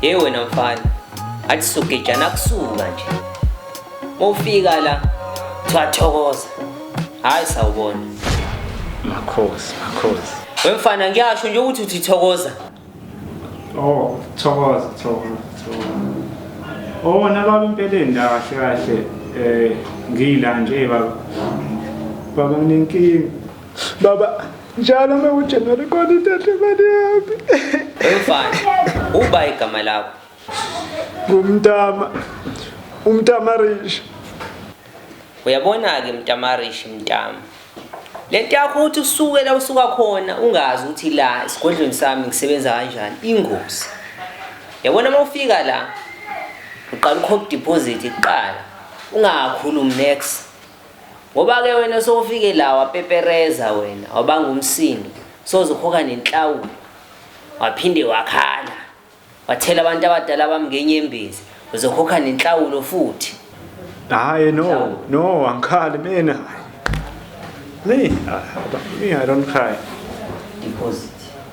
Hey wena mfana, athi sugejana kusuka nje. Mofika la, twathokoza. Hayi sawubona. Makhosi, makhosi. Wemfana ngiyasho nje ukuthi uthi thokoza. Oh, thokoza, thokoza, thokoza. Oh, nalabo impeleni la kahle kahle eh ngiyila nje baba. Baba nginenkinga. Baba njalo uma uJanuary khona ithathe imali yami wemfana uba igama lakho ngumntama umntama rish uyabona-ke mntama rish mntama le nto yakho ukuthi usuke la usuka khona ungazi ukuthi la esigodlweni sami ngisebenza kanjani ingozi yabona uma ufika la uqala ukhokha idiphozithi kuqala ungakhulumi next Ngoba ke wena sowufike la wapepereza wena wabanga umsindo sozokhokha nenhlawulo waphinde wakhala wathela abantu abadala bami ngenyembezi uzokhokha nenhlawulo futhi hayi no no angikhali mina me i don't cry deposit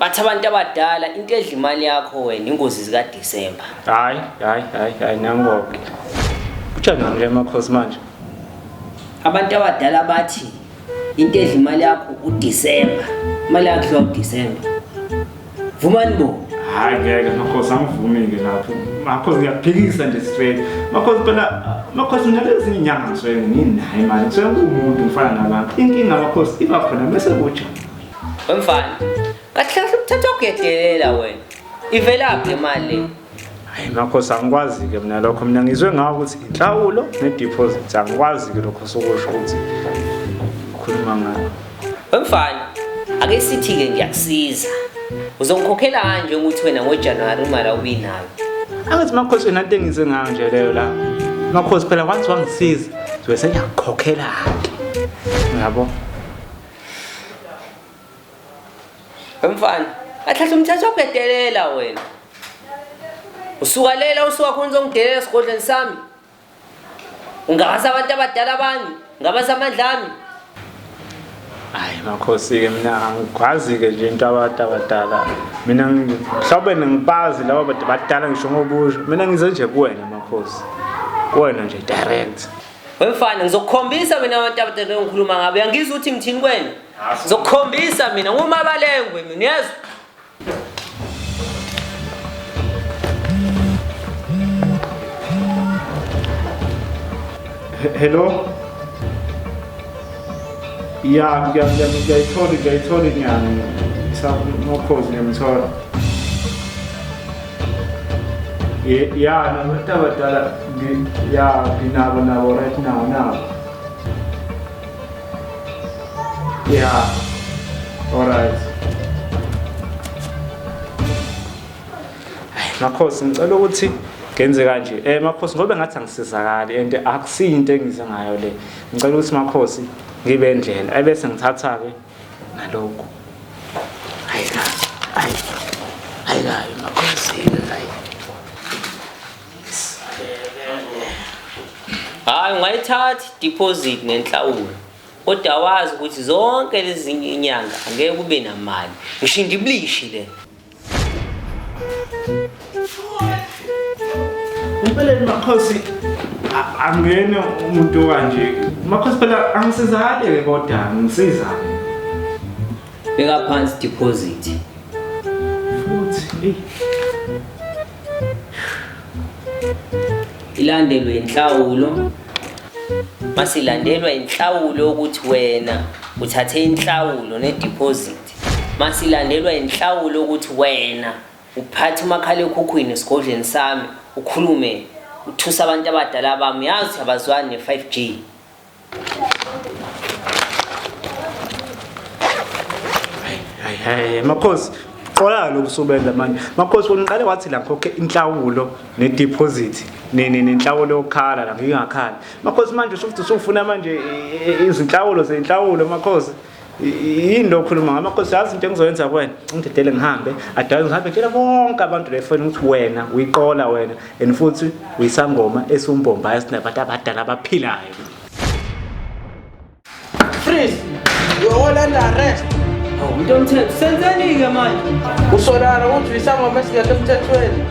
Bathi abantu abadala into edla imali yakho wena ingozi zika December. Hayi, hayi, hayi, hayi nangoke. Kujanani le makhosi manje? Abantu abadala bathi into edla imali yakho u December. Imali yakho idliwa u December. Vumani bo. Hayi ngeke makhosi angivumi ke lapho. Makhosi ngiyaphikisa nje straight. Makhosi phela makhosi nalezi inyanga ngisuke nginayo imali. Ngisuke ngumuntu ngifana nabantu. Inkinga makhosi iba khona bese kuja. Wemfana. Kahle kahle ukuthatha ugedelela wena. Ivelaphi imali le? Hayi makhosi angikwazi ke mina lokho mina ngizwe ngawo ukuthi inhlawulo ne deposit angikwazi ke lokho sokusho ukuthi ukhuluma ngayo. Wemfana. Ake sithi ke ngiyakusiza. Uzongikhokhela kanje ukuthi wena ngoJanuary imali awubinayo. Angathi makhosi wena into engizwe ngayo nje leyo la. Makhosi phela once wangisiza, ngizobe sengiyakukhokhela ke. Uyabo? Mfana, ahlahla umthetho okudelela wena. Usukalela usuka khona uzongidelela esigodlweni sami. Ungabasa abantu abadala bami, ngabasa amandla ami. Hayi makhosi ke mina angikwazi ke nje into abantu abadala. Mina mhlawumbe ngibazi laba badala ngisho ngobusho. Mina ngize nje kuwena makhosi. Kuwena nje direct. Wemfana ngizokukhombisa mina abantu abadala engikhuluma ngabo. Uyangizwa ukuthi ngithini kwena? Ngizokukhombisa mina ngumabalengwe mina uyezwa? Hello? Ya, ngiyayithola, ngiyayithola inyanga. Ngisakhozi ngiyamthola. ya nabantu abadala ya nginabo nabo right now nabo ya alright makhosi ngicela ukuthi ngenze kanje um eh, makhosi ngobe ngathi angisizakali and akusiyo into engize ngayo le ngicela ukuthi makhosi ngibe ndlela ebese ngithatha-ke nalokho hayi ka hayi hayi ka emakhosini hayi hayi ungayithathi deposit nenhlawulo kodwa wazi ukuthi zonke lezi inyanga angeke kube namali ngisho indiblishi le Impeleni makhosi angene umuntu kanje. Makhosi phela angisizake ke kodwa ngisiza. Beka phansi deposit. Futhi hey. Ilandelwe inhlawulo. Masilandelwa inhlawulo ukuthi wena uthathe inhlawulo ne deposit. Masilandelwa inhlawulo ukuthi wena uphathe umakhalekhukhwini esigodleni sami ukhulume uthusa abantu abadala bami yazi abazwani ne 5G. Hayi hayi makhosi qolana lokusubenza manje makhosi wona uqale wathi la ngikhokhe inhlawulo nedeposit nini nenhlawulo yokukhala la ngingakhala makhosi manje usufuthi usufuna manje izinhlawulo zenhlawulo makhosi yini lo khuluma ngama nkosi yazi into engizoyenza kuwena ngidedele ngihambe adale ngihambe tshela bonke abantu la efoni ukuthi wena uyiqola wena and futhi uyisangoma esiwumbombayo sinabantu abadala abaphilayo freeze you're all under arrest umuntu omthetho senzeni-ke manje usolana ukuthi uyisangoma esingekho emthethweni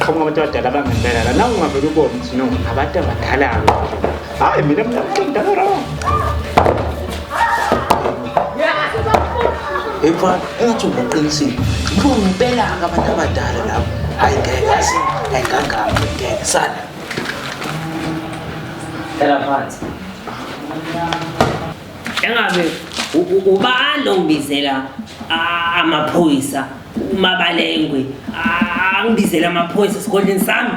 qhamuka abantu abadala bangempela la nawungavele ubone ukuthi no abantu abadala hayi mina mina mdala wrong Emfana, engathi ungaqinisile. Yiko ngempela abantu abadala lapho. Hayi ngeke yazi, hayi ngangami ngeke sana. Phela phansi. Engabe ubani ongibizela amaphoyisa umabalengwe angibizele amaphoyisa esigodleni sami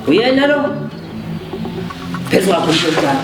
uyena lo phezu kwakho mshontshana